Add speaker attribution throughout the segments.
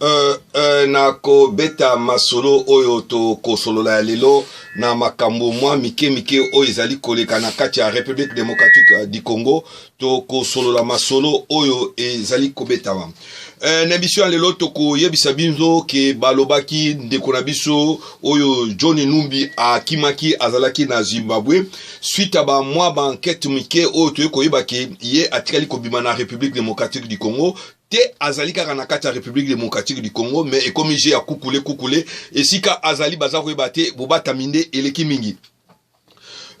Speaker 1: Uh, uh, na kobeta masolo oyo tokosolola ya lelo na makambo mwa mike mike oyo ezali koleka na kati ya république démocratique euh, du congo tokosolola masolo oyo ezali kobetama uh, na emission ya lelo tokoyebisa binzo ke balobaki ndeko na biso oyo john numbi akimaki azalaki na zimbabwe suite ya bamwa bankete mike oyo toyei koyeba ke ye atikali kobima na république démocratique du congo te azali kaka na kati ya Republique Democratique du Congo mais ekomi jeu ya kukule kukule esika azali baza koyeba te bobatami nde eleki mingi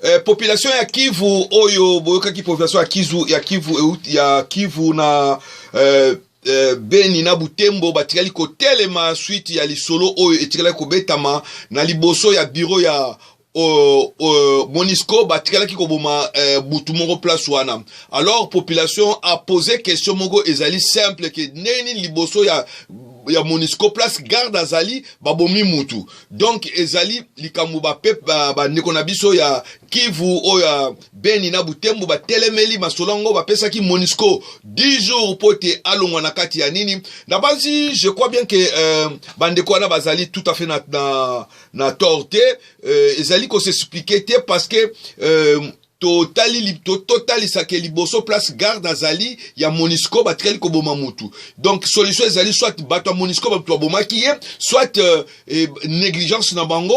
Speaker 1: Eh, population ya Kivu oyo boyokaki population ya Kivu ya Kivu ya Kivu na eh, eh, Beni na Butembo batikali kotelema suite ya lisolo oyo etikalaki kobetama na liboso ya biro ya Euh, euh, monisco batikalaki koboma euh, butu moko place wana alors population a posé question moko ezali simple ke ndenge nini liboso ya ya monisco place garde azali babomi mutu donc ezali likambo bandeko na biso ya kivu oyo ya beni na butembo batelemeli masolo yango bapesaki monisco 10 jours mpo te alongwa na kati ya nini nabanzi je crois bien ke euh, bandeko wana bazali tout à fait na, na, na tort te euh, ezali ko s'expliquer te parce que euh, totali totalisa ke liboso place garde azali ya monisco batikali koboma mutu donc solution ezali soit bato ya monisco bato babomaki ye soit euh, eh, négligence na bango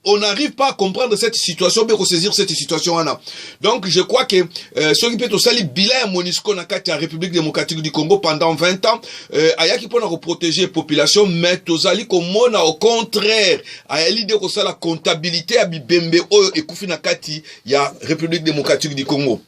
Speaker 1: on n'arrive pas à comprendre cette situation mpe kosaisir cette situation wana donc je crois que euh, soki mpe tosali bilan ya monisco na kati ya république démocratique du congo pendant 20 ans Euh, ayaki mpo na koprotege population mais tozali komona au contraire ayali nde kosala comptabilité ya bibembe oyo ekufi na kati ya république démocratique du congo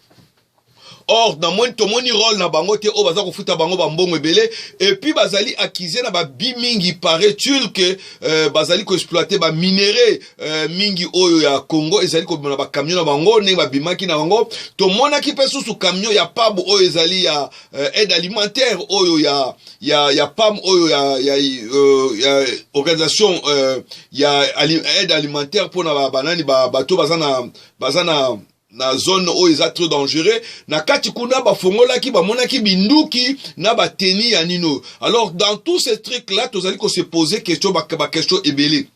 Speaker 1: or namoni tomoni role na bango te oyo baza kofuta bango bambongo ebele epuis bazali akize na babi mingi paraît-il ke euh, bazali koexploite baminerai euh, mingi oyo ya congo ezali kobima na bakamio na bango ndenge babimaki na bango tomonaki mpe susu kamio ya pabu oyo ezali ya euh, aide alimentaire oyo ya ya ya PAM oyo ya ya, euh, ya organisation euh, ya ali, aide alimentaire pona ba banani ba bato baza na baza na na zone oyo eza trop dangereux na kati kuna bafongolaki bamonaki binduki na bateni ya nino alors dans tous ces trucs là tozali ko se poser question bakestion ebele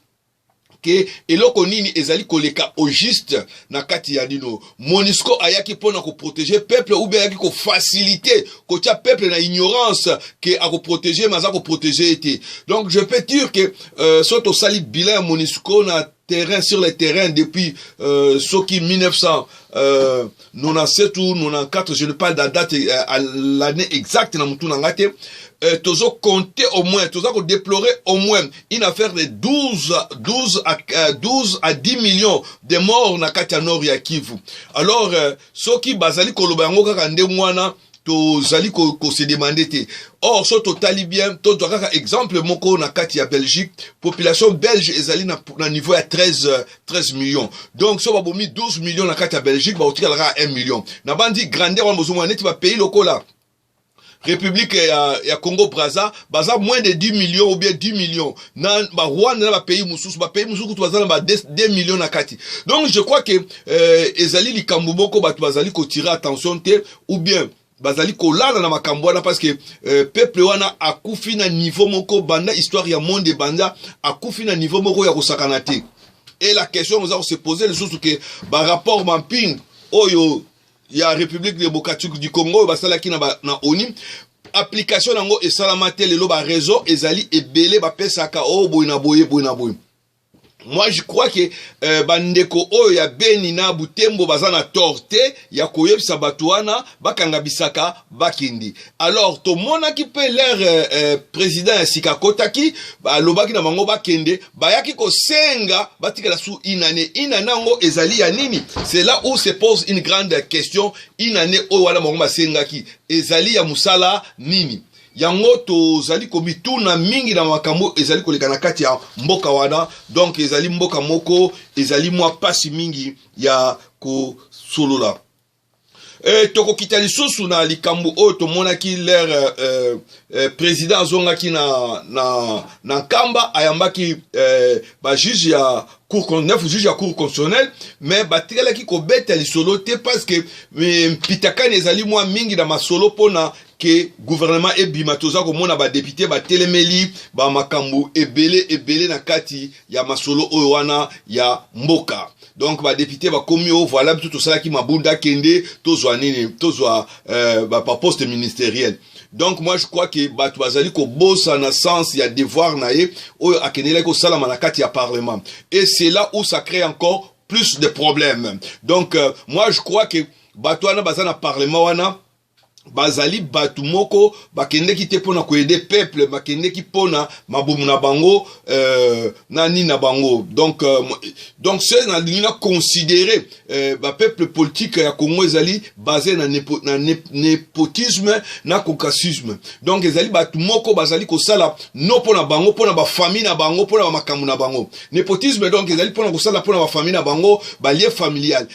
Speaker 1: ke eloko nini ezali koleka au juste na kati ya nino monisco ayaki mpo na koprotege peuple ou bien ayaki kofasilite kotya peuple na ignorance ke akoprotege me aza koprotege ye te donc je peux dire ke euh, so tosali bilan ya monisco na terrain sur le terrain depuis euh, soki 1900 euh, 97 ou 94 je ne parle da date uh, l'année exacte na mutu na nga te uh, tozo compter au moins toza ko déplorer au moins une affaire de 12 12 à uh, 12 à 10 millions de morts na kati ya nord ya Kivu alors uh, soki bazali koloba yango kaka ndenge wana tozali kosedemande te or so totali bien tozwa kaka exemple moko na kati ya belgique population belge ezali na, na niveau ya 13, 13 million donc so babomi 12 million na kati ya belgique bakotikala kaka 1 million na bandi grandeur wana bozomona neti bapays lokola république ya, ya congo braza baza moins de 10 millions ou bien 10 millions na barwanda na bapays mosusu bapays mosusu kutu baza na ba 2 millions na kati donc je crois que eh, ezali likambo moko bato bazali kotire attention te ou bien bazali kolala na makambo wana parce que euh, peuple wana akufi na niveau moko banda histoire ya monde ebanda akufi na niveau moko ya kosakana te et la question oza kose pose lisusu ke barapport mamping oyo ya république démocratique du congo oyo basalaki na, ba, na oni application yango esalama te lelo bareseau ezali ebele bapesaka oyo oh, boye na boye boye na boye moi je crois que euh, bandeko oyo ya beni na butembo baza na tort te ya koyebisa bato wana bakanga bisaka bakindi alors tomonaki mpe leur euh, euh, président ya sika akotaki balobaki na bango bakende bayaki kosenga batikala su inane inane yango ezali ya nini c'est là où se pose une grande question inane oyo wana bango basengaki ezali ya mosala nini yango tozali komituna mingi na makambo ezali koleka na kati ya mboka wana donk ezali mboka moko ezali mwa mpasi mingi ya kosolola e, tokokita lisusu na likambo oyo tomonaki lere eh, eh, président azongaki na, na, na nkamba ayambaki eh, bajuge ya cour neuf juge ya cour constitutionnelle mais batikalaki kobeta lisolo te parce que eh, mpitakani ezali mwa mingi na masolo mpona ke gouvernement ebima toza komona badepute batelemeli bamakambo ebele ebele na kati ya masolo oyo wana ya mboka donc badepute bakomi o voilà biso tosalaki mabunda kende tozwa nini tozwa euh, baposte ministeriel donc moi je crois ke bato bazali kobosana sens ya devoir na ye oyo akendelaki kosalama na kati ya parlement et c'est là où ça crée encore plus de problèmes donc euh, moi je crois ke bato wana baza na parlement wana bazali bato moko bakendeki te mpona koede peuple bakendeki mpona mabumu na bango euh, na nini na bango donc euh, donc se nalingi na considere euh, bapeuple politique ya congo ezali base na, nepo, na ne, nepotisme na caucasisme donc ezali bato moko bazali kosala no mpona bango mpona bafamille na bango mpona bamakambo na bango nepotisme donc ezali mpona kosala mpona bafamille na bango balie familiale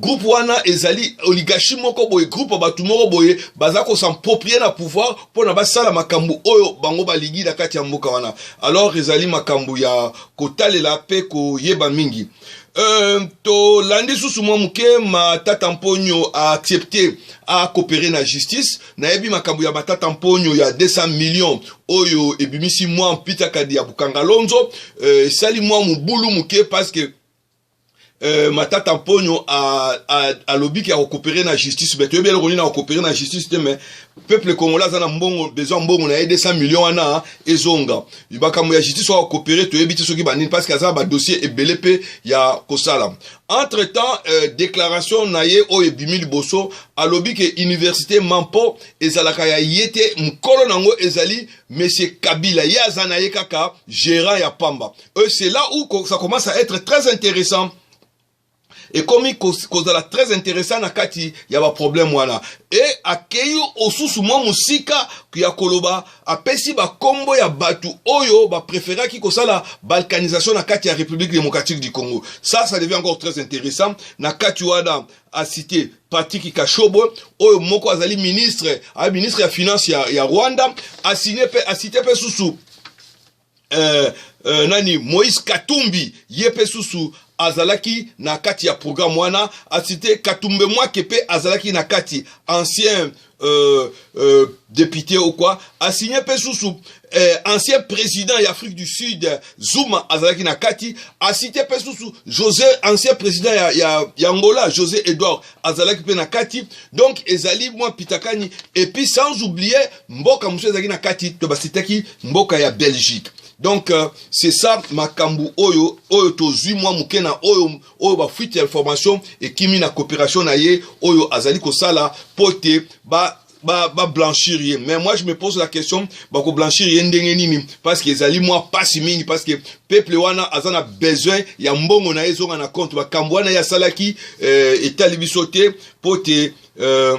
Speaker 1: groupe wana ezali oligarchie moko boye groupe ya bato moko boye baza kosamproprie na pouvoir mpona basala makambo oyo bango balingi na kati ya mboka wana alors ezali makambo ya kotalela mpe koyeba mingi Euh, tolandi susu mwa moke matata mponyo aaccepte akopere na justice nayebi makambo ya matata mponyo ya 200 million oyo ebimisi mwa mpitakadi ya bukangalonzo euh, esali euh, mwa mobulu moke parce que Euh, matata mponyo alobi ke akokopere na justice me toyebi eloko nini akokopere na justice te me peuple congolais aza na mbongo besoin mbongo na ye 200 million wana ezonga makambo ya justice oyo akokopere toyebi te soki banini parce que aza na badossier ebele mpe ya kosala entre temps euh, déclaration na ye oyo ebimi liboso alobi ke université mampo ezalaka ya ye te mokolo na yango ezali monsieur kabila ye aza na ye kaka gérant ya pamba et c'est là où ça commence à être très intéressant ekomi kozala très intéressant na kati ya baproblème wana e akei osusu mwa mosika ya koloba apesi bakombo ya bato oyo bapréféraki kosala balkanisation na kati ya république démocratique du congo ça ça devient encore très intéressant na kati wana acite patrick kashobo oyo moko azali ministre aza ministre ya finance ya, ya rwanda asigne pe asite pe susu euh, euh, nani moïse katumbi ye mpe susu azalaki na kati ya programme wana asite katumbe mwake mpe azalaki na kati ancien euh, euh, député ou quoi asigne mpe susu euh, ancien président ya afrique du sud zuma azalaki na kati asite mpe susu josé ancien président ya, ya, ya angola josé edouard azalaki mpe na kati donc ezali mwa pitakani epuis sans oublier mboka mosusu ezalaki na kati to basitaki mboka ya belgique donc euh, c'est ça makambo oyo oyo tozwi mwa moke na oyo oyo bafuite ya information ekimi na coopération na ye oyo azali kosala mpo te ba ba, ba blanchir ye mais moi je me pose la question bako blanchir ye ndenge nini parce que ezali mwa pasi mingi parce que peuple wana aza na besoin ya mbongo na ye ezonga na compte makambo wana ye asalaki euh, etali biso te mpo te euh,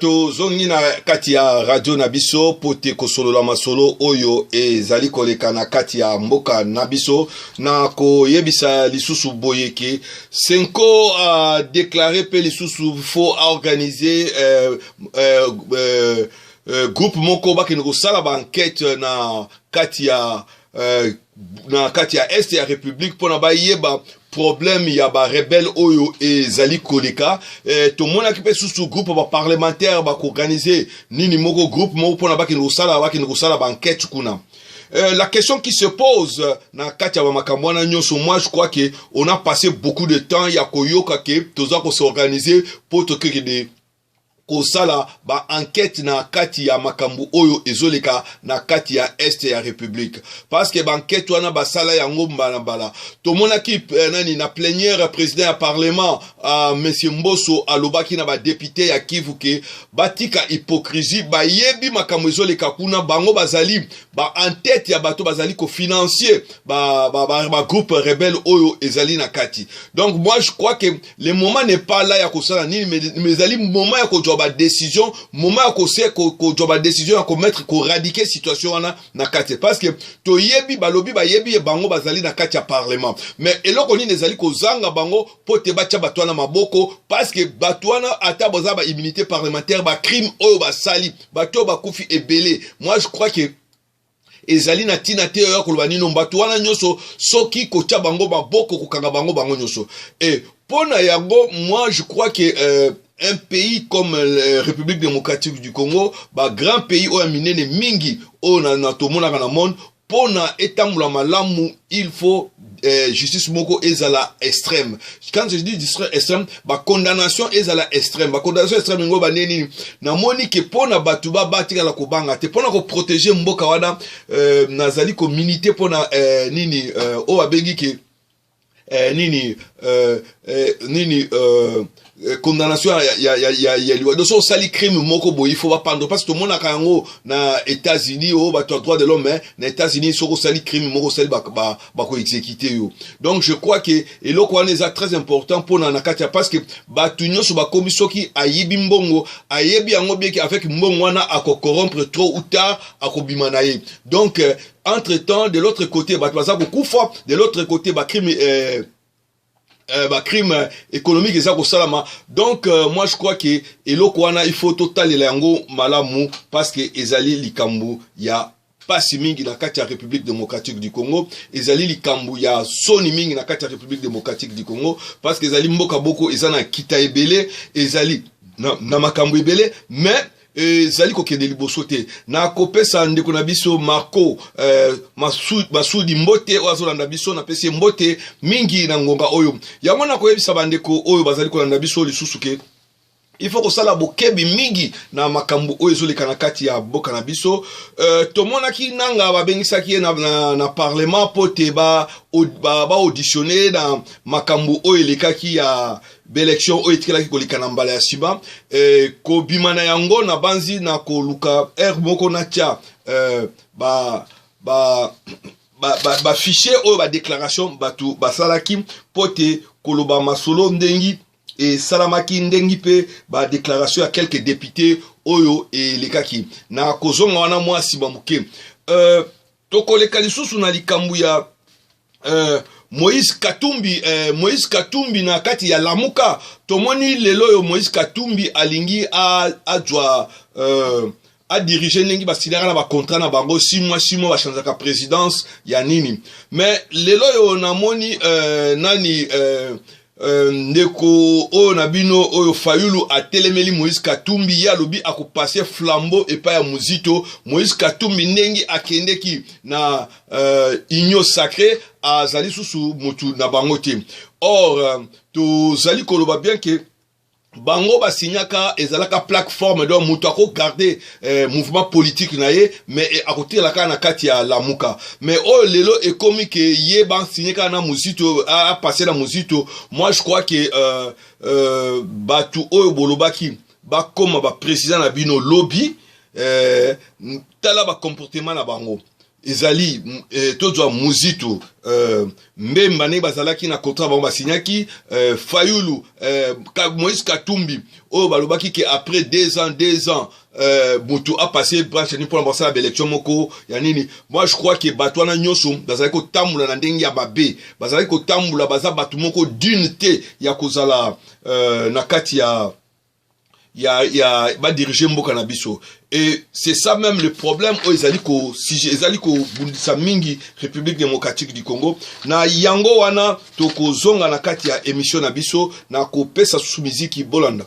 Speaker 1: tozongi na kati ya radio na biso mpo te kosolola masolo oyo ezali koleka na kati ya mboka na biso na koyebisa lisusu boyeke senko adeklare mpe lisusu fo aorganize eh, eh, eh, euh, groupe moko bakende kosala ba enquête na kati ya euh, na kati ya est ya république mpona bayeba problème ya barebele oyo ezali koleka eh, tomonaki mpe susu groupe baparlementaire bakoorganize nini moko groupe moko mpona bakende kosala bakende kosala bankete kuna Euh, la question qui se pose euh, na kati ya bamakambo wana nyonso moi je crois que on a passé beaucoup de temps ya koyoka ke toza ko s'organiser mpo tokekende kosala ba enquete na kati ya makambo oyo ezoleka na kati ya est ya republique parce que ba enquete wana basala yango mbala mbala tomonaki eh, nani na plenière président ya parlement ah, monsieur mboso alobaki na ba député ya kivu ke batika hypocrisie bayebi makambo ezoleka kuna bango bazali ba en tête ya bato bazali kofinancie ba, ba, ba, ba groupe rebelle oyo ezali na kati donc moi je crois que le moment n'est pas là ya kosala nini mais ezali moment ya kozwa ba décision moment ya kose kozwa ba décision ya komettre koradike situation wana na kati parce que toyebi balobi bayebi ye bango bazali na kati ya parlement mais eloko nini ezali kozanga bango mpo te batya bato wana maboko parce que bato wana ata baza ba immunité parlementaire ba crime oyo basali bato oyo bakufi ebele moi je crois que ezali na ntina te oya koloba nino bato wana nyonso soki kotya bango maboko kokanga bango bango nyonso e mpo na yango moi je crois que euh, un pays comme euh, république démocratique du congo bagrand pays oyo ya minene mingi oyo na, na tomonaka na monde mpo na etambola malamu il faut eh, justice moko ezala extrême quand je dis justice extrême condamnation ezala extrême condamnation extrême yango bande nini namoni ke mpo na bato ba batikala kobanga te mpo na koprotege mboka wana eh, nazali kominite mpo na eh, nini eh, oyo abengi ke eh, nini eh, eh, nini eh, Euh, condamnation ya, ya, ya, ya, ya liwa donc soki osali crime moko boye ifo bapandre parce tomonaka yango na états-unis oyo oh, bato ya droit de l'homme eh, na états-unis soki osali crime moko osali bakoexécute ba, ba yo donc je crois ke eloko wana eza très important mpona na kati ya parce que bato nyonso bakomi soki ayibi mbongo ayebi yango bien ke avec mbongo wana akokorompre trop ou tard akobima na ye donc euh, entre temps de l'autre côté bato baza kokufa de l'autre côté bacrime euh, Euh, ba crime euh, économique eza kosalama donc euh, moi je crois que eloko wana il faut totalela yango malamu parce que ezali likambo ya pasi mingi na kati ya république démocratique du congo ezali likambo ya soni mingi na kati ya république démocratique du congo parce que ezali mboka boko eza na nkita ebele ezali na, na makambo ebele mais ezali kokende liboso te na kopesa ndeko na biso marco eh, masudi mbote oyo azolanda biso napesi ye mbote mingi na ngonga oyo yango nakoyebisa bandeko oyo bazali kolanda biso lisusu ke il faut kosala bokebi mingi na makambo oyo ezoleka na kati ya boka na biso uh, tomonaki nanga babengisaki ye na, na, na parlement mpo te baauditionne ba, ba na makambo oyo elekaki ya b'election oyo etikalaki koleka na mbala ya nsima eh, kobima na yango nabanzi na koluka heure moko natya eh, ba, ba bafichier ba, ba oyo badéclaration bato basalaki mpo te koloba masolo ndengi esalamaki ndengi mpe badéclaration ya quelques député oyo elekaki na kozonga wana mwa nsima moke euh, tokoleka lisusu na likambo ya uh, moïse katumbi eh, moïse katumbi na kati ya lamuka tomoni lelo oyo moïse katumbi alingi azwa uh, adirige ndenge basilaka na bacontrat na bango si mwa si mwa bachanzaka présidence ya nini mais lelo oyo namoni uh, nani uh, Euh, ndeko oyo na bino oyo fayulu atelemeli moïse katumbi ye alobi akopase flambeau epai ya mozito moïse katumbi ndenge akendeki na uh, union sacré azali susu motu na bango te or uh, tozali koloba bien ke bango ba signaka ezalaka plateforme donc moto ako garde eh, mouvement politique na ye mais eh, akotikala kaka na kati ya lamuka mais oyo lelo ekomi ke ye basigne kaka na mozito apasse na mozito moi je crois ke euh, euh, bato oyo bolobaki bakoma baprésident na bino lobi eh, tala bacomportement na bango ezali eh, tozwa muzitu eh, mbemba ndenge bazalaki na contrat bango basignaki eh, fayulu eh, moïse katumbi oyo balobaki ke après deux ans deux ans eh, motu apasse branche nini mpona basala baélection moko ya nini moi je crois ke bato wana nyonso bazalaki kotambola na ndenge ya mabe bazalaki kotambola baza bato moko dune te ya kozala eh, na kati ya ya ya ba diriger mboka na biso et c'est ça même le problème oyo ezali ko ezali kobundisa mingi république démocratique du congo na yango wana tokozonga na kati ya émission na biso na kopesa susu miziki bolanda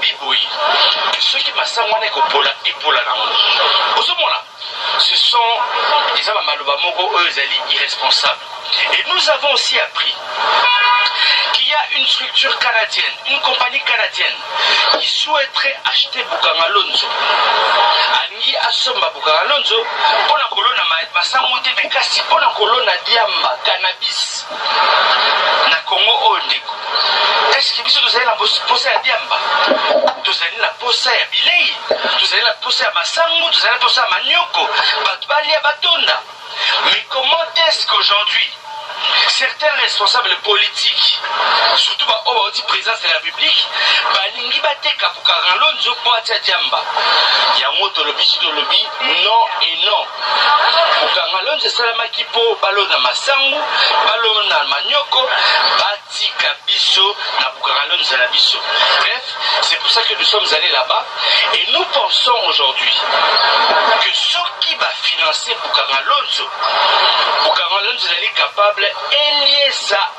Speaker 2: bi boyi que soki masangu wana ekopola epola nango ozomona ce sont eza bamaloba moko oyo ezali irresponsable et nous avons aussi appris qu'il y a une structure canadienne une compagnie canadienne qui souhaiterait acheter bukangalonzo alingi asomba bukangalonzo mpo na kolona masangu te me kasi mpo na kolona diamba cannabis na congo oyo ndeko eske biso tozali na posa ya diamba tozali na posa ya bilei tozali na posa ya masango tozali na posa ya manioko bato balia batonda mais comment est ce qu'aujourd'hui certains responsables politiques surtout baoyo bauti présence de la république balingi bateka bukagalonzo mpo atya diamba yango tolobi si tolobi non et non kokanga lonzo esalamaki mpo balona masangu balona manioko batika biso na kokanga lonzo na biso bref c'est pour ça que nous sommes allés là-bas et nous pensons aujourd'hui que soki bafinance kokanga lonzo kokanga lonzo ezali capable eliesa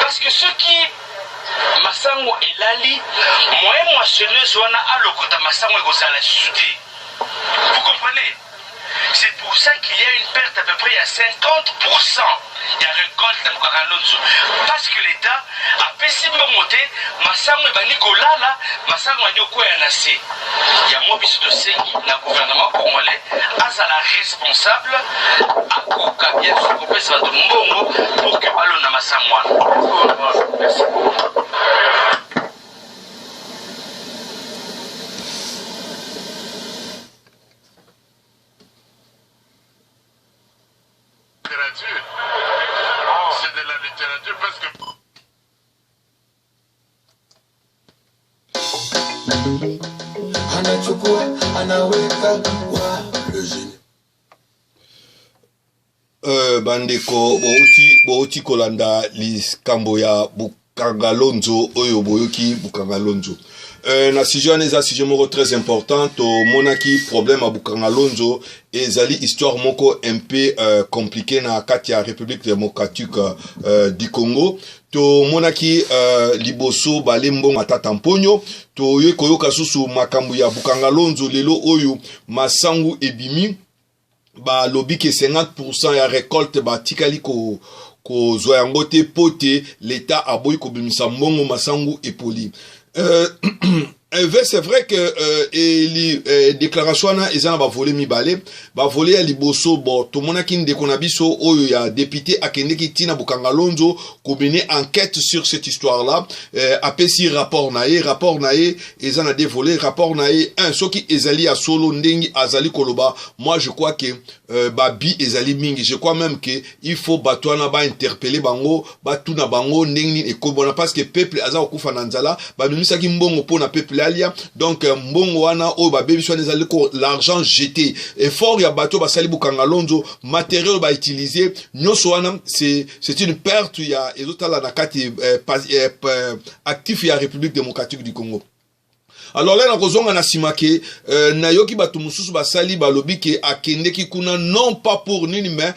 Speaker 2: Parce que soki masango elali moyen moissonneuse wana alokota masango ekozala lisusu te vous comprenez c'est pour ça qu'il y a une perte à peu près à 50% de la récolte de Mukakalonzo. Parce que l'État a payé si bon monté, ma sang est banni kolala, ma sang est quoi à nasser. Yango biso tosengi na gouvernement congolais azala responsable, akoka bien sûr kopesa bato mbongo pour que balona masango wana. Merci
Speaker 3: beaucoup.
Speaker 4: Euh,
Speaker 1: bandeko bouti bouti kolanda likambo ya bukangalonzo oyo boyoki bukangalonzo Euh, na sujet wana eza sujet moko très important tomonaki problème ya bukanga lonzo ezali histoire moko un peu euh, compliqué na kati ya république démocratique euh, du congo tomonaki uh, liboso bale mbongo matata mponyo toye koyoka susu makambo ya bukangalonzo lelo oyo masangu ebimi balobi ke 50 ya recolte batikali ko kozwa yango te mpo te leta aboyi kobimisa mbongo masangu epoli Euh, Eve, c'est vrai que euh, eli, euh, déclaration wana eza na bavole mibale bavole ya liboso bo tomonaki ndeko na biso oyo ya député akendeki ntina bokanga lonzo komene enquête sur cette histoire là euh, apesi rapport na ye rapport na ye eza na deux volets rapport na ye un soki ezali ya solo ndenge azali koloba moi je crois que euh, babi ezali mingi je crois même que il faut bato wana bainterpele bango batuna bango ndenge nini ekomi wana parce que peuple aza kokufa na nzala babimisaki mbongo mpo na peuple alia donc euh, mbongo wana oyo babebisi wana ezali ko l'argent jeté effort ya bato basali bokanga lonzo matériel bautilize nyonso wana c'est une perte ya ezotala na kati eh, eh, actif ya république démocratique du congo alors là nakozonga na nsima ke euh, nayoki bato mosusu basali balobi ke akendeki kuna non pas pour nini mais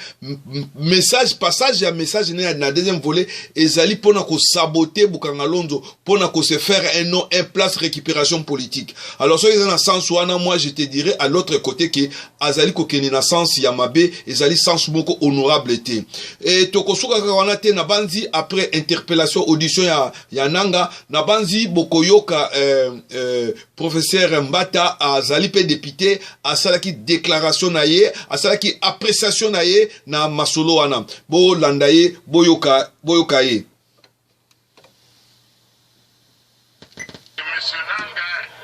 Speaker 1: message passage ya message na, na deuxième volet ezali mpo na kosabote bukangalonzo mpo na kose faire un nom un place récupération politique alors soki eza na sens wana moi je te dirais à l'autre côté ke azali kokende na sens ya mabe ezali sens moko honorable te e tokosuka kaka wana te nabanzi après interpellation audition ya ya nanga nabanzi bokoyoka eh, eh, professeur mbata azali mpe depute asalaki déclaration na ye asalaki appréciation na ye na masolo wana bolanda ye boyoka, boyoka ye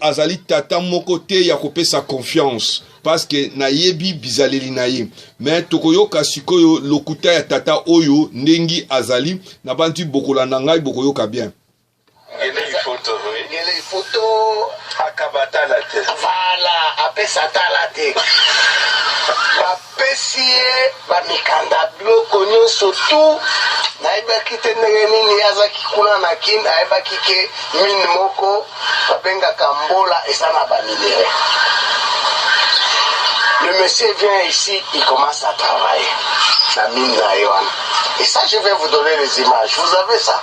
Speaker 3: azali tata
Speaker 1: moko te ya kopesa confiance paske nayebi bizaleli na ye me tokoyoka sikoyo lokuta ya tata oyo ndenge azali nabanzi bokolanda ngai bokoyoka bien Ngelei photo oui.
Speaker 4: Ngelei photo. Akaba tala te. Voilà, apesa tala te. Bapesi ye bamikanda biloko nyonso tu nayebaki te ndenge nini azaki kuna na kin ayebaki ke mine moko babengaka mbola eza na baminere le monsieur vient ici il commence à travailler na mine na ye wana et ça je vais vous donner les images vous avez ça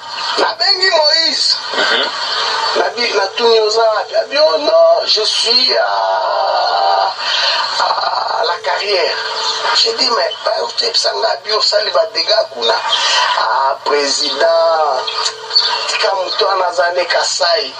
Speaker 4: nabengi moïse nabi natuni oza wapi abi oh non je suis à, à la carrière j'ai dit mais bayotebisa nga abi osali badega kuna ah, président tika moto wana aza nde kasai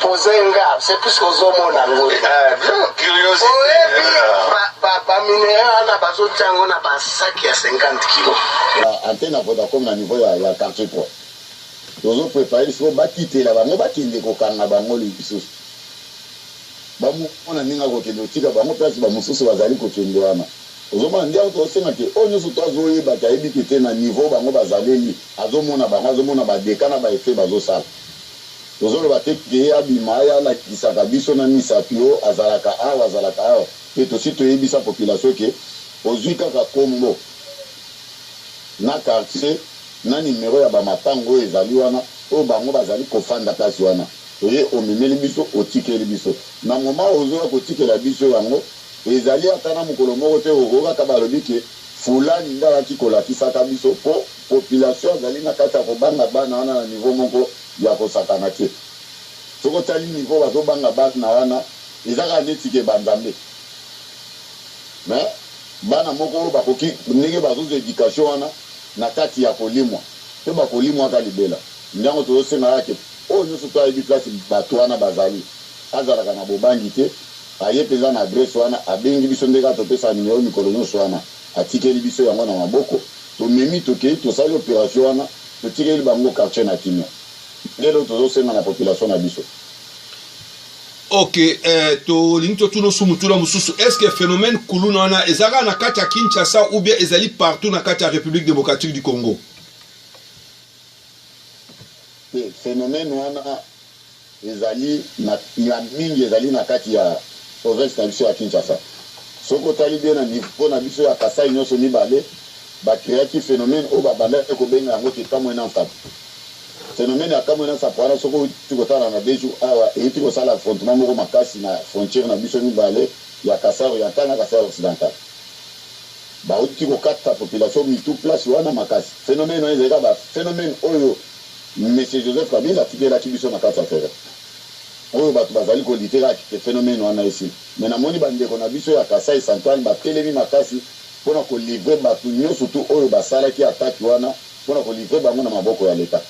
Speaker 4: Poser nga, c'est plus que ozo mona ngo. Eh, curiosité.
Speaker 3: Oyebi ba
Speaker 4: ba ba minerais wana bazo tiango na ba sac ya 50 kilos. Ah, antenne ya Vodacom na
Speaker 5: niveau ya ya quartier pro. Tozo préparer lisusu bakitela bango bakende kokanga bango lisusu. Bamona ndenge akokende kotika bango place bamosusu bazali kokende wana. ozomona nde auto osenga te oyo nyonso to azoyeba te ayebi te te na niveau bango bazaleli azomona bango azomona badeka na baefe bazosala Tozo loba te que abima aya alakisaka biso na misa que oh azalaka awa azalaka awa te tosi to yebisa population que ozui kaka kombo na quartier na numero ya ba mapangu oyo ezali wana oyo bango bazali ko fanda place wana oye omemeli biso otikeli biso na moment ozo ya kotikela biso yango ezali ata na mukolo moko te oyo kaka balobi que Fulani nde ayaki kolakisaka biso po population azali na kati ya kobanga bana wana na niveau moko ya kosakana te. Soki otali niveau bazo banga bana wana eza kaka neti ke ba nzambe. Mais bana moko oyo bakoki ndenge bazozwa education wana na kati ya kolimwa pe bakolimwaka libela. Nde yango tozo senga kaka ke oyo nionso to ayebi place batu wana bazali azalaka na bobangi te. Aye penza na adresse wana, abengi biso nde kaka topesaka numero mikolo nionso wana, atikeli biso yango na maboko, tomemi tokeyi tosali operation wana, totikeli bango quartier na kimia. Nde eloko tozo senga na population na biso.
Speaker 1: Ok, eh, tolingi totuna osu motuna mosusu est ce que phénomène kuluna wana eza kaka na kati ya kinshasa ou bien ezali partout na kati ya république démocratique du congo te
Speaker 5: phénomène wana Ezali na ya mingi ezali na kati ya province na biso ya Kinshasa. Soki otali bien na niveau na biso ya Kasaï nionso mibale ba creaki phenomène oyo babandaki kobenga yango ke kamue na nsapu. Phenomène ya kamue na nsapu wana soki owuti kotala na Beju awa ewuti kosala affrontement moko makasi na frontière na biso mibale ya Kasaï oriental na Kasaï occidental. Bawuti kokata population mitu place wana makasi. Phenomène wana ezali kaka ba phenomène oyo. Monsieur Joseph Kabila atikelaki biso na kati ya terrain oyo batu bazali ko lutter ak que phenomène wana esila mais namoni ba ndeko na biso ya Kasaï central batelemi makasi pona ko livrer batu nyoso tout oyo basalaki attaque wana pona ko livrer bango na maboko ya l'Etat.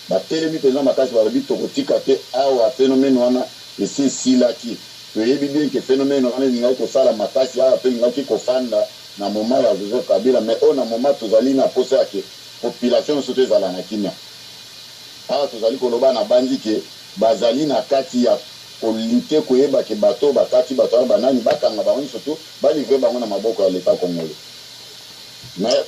Speaker 5: Batelemi penza makasi balobi tokotika te awa phenomène wana esi esilaki toyebi bien que phenomène wana elingaki kosala makasi awa pe elingaki kofanda na moment ya Joseph Kabila mais oyo na moment tozali na posa ya que population nioso te ezala na kimia awa tozali koloba na banzi ke bazali na kati ya ko lutter koyeba ke bato oyo bakati bato wana ba nani bakanga bango nioso tout ba livrer bango na maboko ya l'etat congolais mais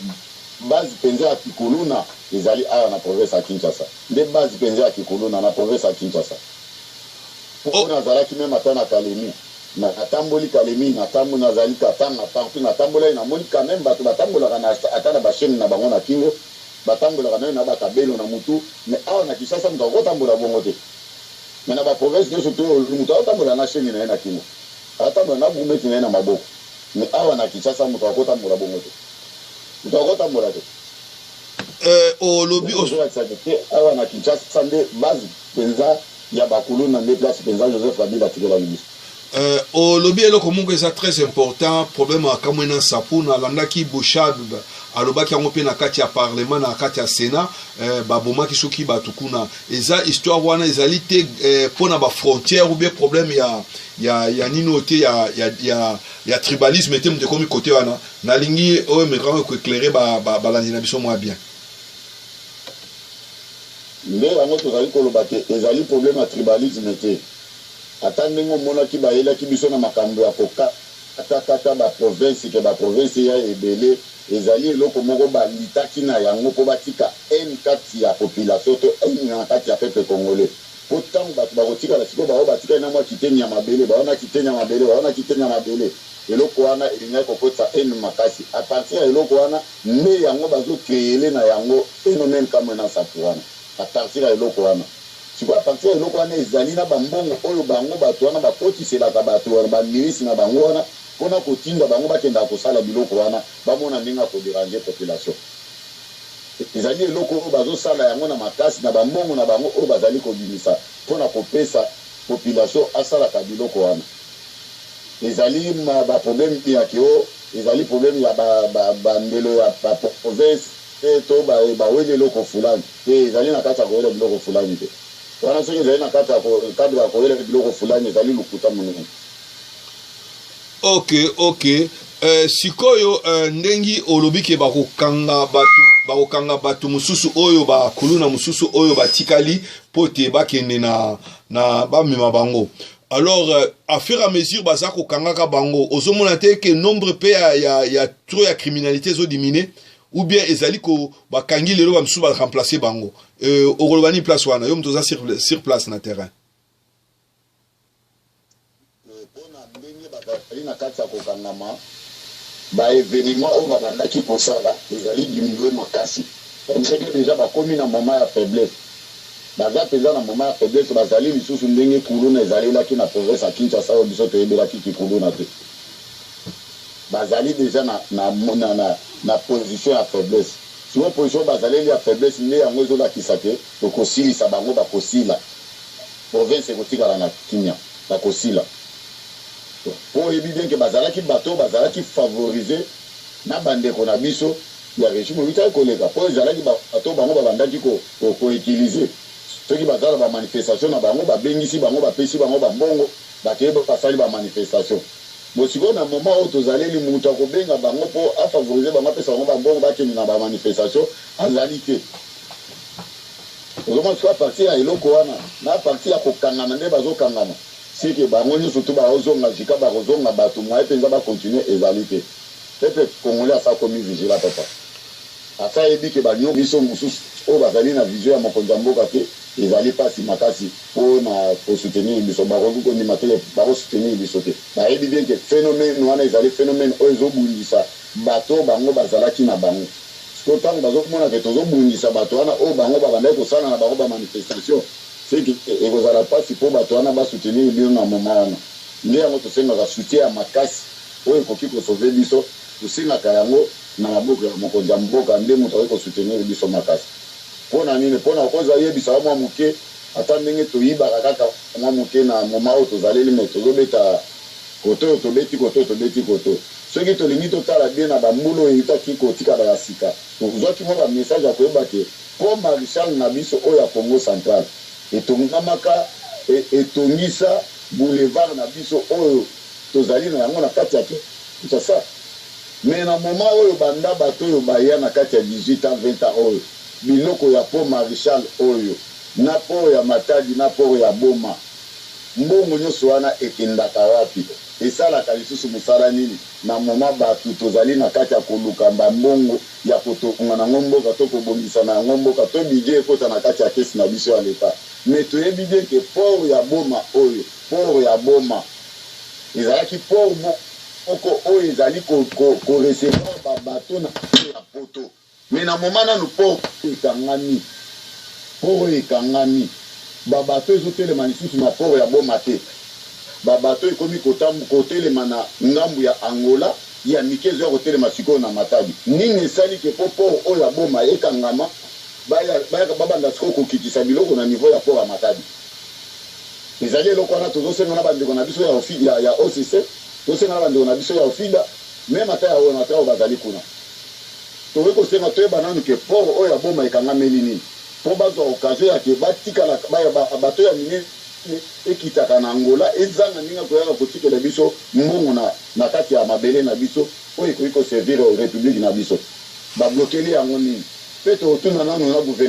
Speaker 5: base penza ya ki kuluna ezali awa na province ya Kinshasa nde base penza ya ki kuluna na province ya Kinshasa po nazalaki meme ata na Kalemi Natamboli Kalemie, natamboli, nazali Katanga, partout natambolaki namoni quand meme batu batambolaka na ata na ba chaines na bango na kingo, batambolaka meme na ba cabelo na mutu, mais awa na Kinshasa mutu akoki kotambola bongo te, mais na ba provinces nioso toyolu mutu akotambola na chaine na ye na kingo, akotambola na gourmette na ye na maboko, mais awa na Kinshasa mutu akoki kotambola bongo te, mutu akoki kotambola te. Euh,
Speaker 1: olobi, ozolakisa que
Speaker 5: awa na Kinshasa nde base penza. ya ba kuluna nde place penza Joseph Kabila atikelaki biso. Euh, olobi
Speaker 1: eloko moko eza très important problème ya kamwe na nsapu nalandaki bouchard alobaki yango mpe na kati ya parlement na kati ya sénat euh, babomaki soki bato kuna eza histoire wana ezali te euh, mpo na bafrontière ou bien problème ya, ya, ya nini oyo te ya, ya, ya, ya tribalisme te moto ekomi kote wana nalingi oyo mekanga koeclaire balandi ba, ba na biso mwa bien
Speaker 5: Nde yango tozali koloba que ezali problème ya tribalisme te. Ata ndenge omonaki bayelaki biso na makambo ya kokata kata ba provinces que ba provinces eya ebele, ezali eloko moko balutaki na yango mpo batika haine kati ya population to haine na kati ya peuple congolais. Mpo tango batu bakotikala sikoyo bango batikali na mua kiteni ya mabele, bango na kiteni ya mabele, bango na kiteni ya mabele, eloko wana elingaki kokotisa haine makasi. A partir ya eloko wana, Nde yango bazo creele na yango phenomene kamue na safu wana à partir ya eloko wana. Sikoyo à partir ya eloko wana ezali na ba mbongo oyo bango batu wana ba kotiselaka batu wana ba milices na bango wana po na ko tinda bango ba kendaka ko sala biloko wana ba mona ndenge ya ko deranger population. Ezali eloko oyo bazo sala yango na makasi na ba mbongo na bango oyo bazali ko bimisa po na ko pesa population asalaka biloko wana. ezali ba problème te ya ke oh ezali problème ya ba ndelo ya ba province te to ba weli eloko fulani te ezali na kati ya kowela biloko fulani te wana soki ezali na kati ya cadre ya kowela biloko fulani ezali lokuta monene. Ok
Speaker 1: ok euh, sikoyo euh, ndenge olobi ke bakokanga bato bakokanga bato mosusu oyo bakuluna mosusu oyo batikali mpo te bakende na, na bamema bango alors euh, à fur et à mesure baza kokangaka bango ozomona te ke nombre mpe ya, ya, ya tro ya criminalité ezodimine ou bien ezali ko bakangi lelo bamisusu baremplace bango euh, okoloba nini place wana yo moto oza sur, sur place na terrain bazali
Speaker 5: na kati ya kokangama baevenema oyo babandaki kosala ezali diminue makasi parce que deja bakomi na moment ya faiblesse Baza penza na moment ya faiblesse bazali lisusu ndenge kuluna ezalelaki na province ya Kinshasa oyo biso toyebelaki kikuluna te bazali dejà na na position ya faiblesse sikoyo position oyo bazaleli ya faiblesse nde yango ezolakisa ke tokosilisa bango bakosila province ekotikala na kimia bakosila po oyebi bien ke bazalaki bato oyo bazalaki favorise na bandeko na biso ya regime ewutaki koleka po ezalaki bato oyo bango babandaki ko Toko utiliser soki baza na ba manifestation na bango ba bengisi bango ba pesi bango ba mbongo ba ke ba sali ba manifestation bon sikoyo na moment oyo tozaleli mutu ako benga bango po a favoriser bango apesa bango ba mbongo ba kende na ba manifestation azali te ozomona sikoyo a partir ya eloko wana na a partir ya kokangana nde bazo kangana ce que bango nioso tout bao zonga jusqu'à bako zonga batu moyen penza ba continuer ezali te peuple congolais asi akomi vigilant papa. Ata ayebi que ba nyonso mosusu oyo bazali na vision ya mokonzi ya mboka que ezali pasi makasi po na ko soutenir biso, bakoki ko ndima te que bako soutenir biso te. Bayebi bien que phenomene wana ezali phenomene oyo ezo bundisa bato oyo bango bazalaki na bango. Sikoyo tango bazo mona que tozo bundisa bato wana oyo bango ba bandaki ko sala na bango ba manifestation, ce que eko zala pasi po bato wana ba soutenir bino na moment wana. Nde yango to sengaka soutien ya makasi oyo ekoki ko sauver biso. Tosengaka yango na maboko ya mokonzi ya mboka nde moto akoki ko soutenir biso makasi. Pona nini? Pona okoz ayebisa yo mwa moke ata ndenge toyibaka kaka mwa moke na moment oyo tozaleli mais tozobeta kote oyo tobeti kote oyo tobeti kote oyo. Soki tolingi totala bien na ba mbula oyo ewutaki kotika ba ya sika, tozwaki mwa ba message ya koyeba ke pont Marechal na biso oyo ya Kongo Central etongamaka e etongisa boulevard na biso oyo Tozali na yango na kati ya ki nshasa mais na moment oyo banda bato oyo baya na kati ya 18 ans 20 ans oyo biloko ya pont marichal oyo na port ya matadi na port ya boma mbongo nionso wana ekendaka wapi esalaka lisusu musala nini na moment bato tozali na kati ya koluka ba mbongo ya kotounga na ngo mboka to kobongisa na yango mboka to budget ekota na kati ya caisse na biso ya l'etat mais toyebi bien que port ya boma oyo port ya boma Ezalaki port moko oyo ezali ko recevoir ba bateaux na port ya poto mais na moment nanu port oyo ekangami. Port oyo ekangami. Ba bateaux ezo telema lisusu na port ya Boma te. Ba bateaux ekomi ko telema na ngambu ya Angola, ya mike ezo ya ko telema sikoyo na Matadi. Nini esali que po port oyo ya Boma ekangama? Ba yaka ba banda sikoyo ko kitisa biloko na niveau ya port ya Matadi. Ezali eloko wana tozosenga na bandeko na biso ya ofi, ya, ya OCC, tosenga na bandeko na biso ya OFIDA, meme ata ya ONATRA oyo bazali kuna. Tokoki kosenga, toyeba nanu ke port oyo ya Boma ekangameli nini, mpo bazwa occasion ya ke batikala, ba, ba, bateau ya minene ekitaka na Angola ezanga ndenge ya koyaka kotikela biso mbongo na, na kati ya mabele na biso oyo ekoki ko servir Republique na biso. Ba bloquer yango nini? Mpe tokotuna nanu na gouve.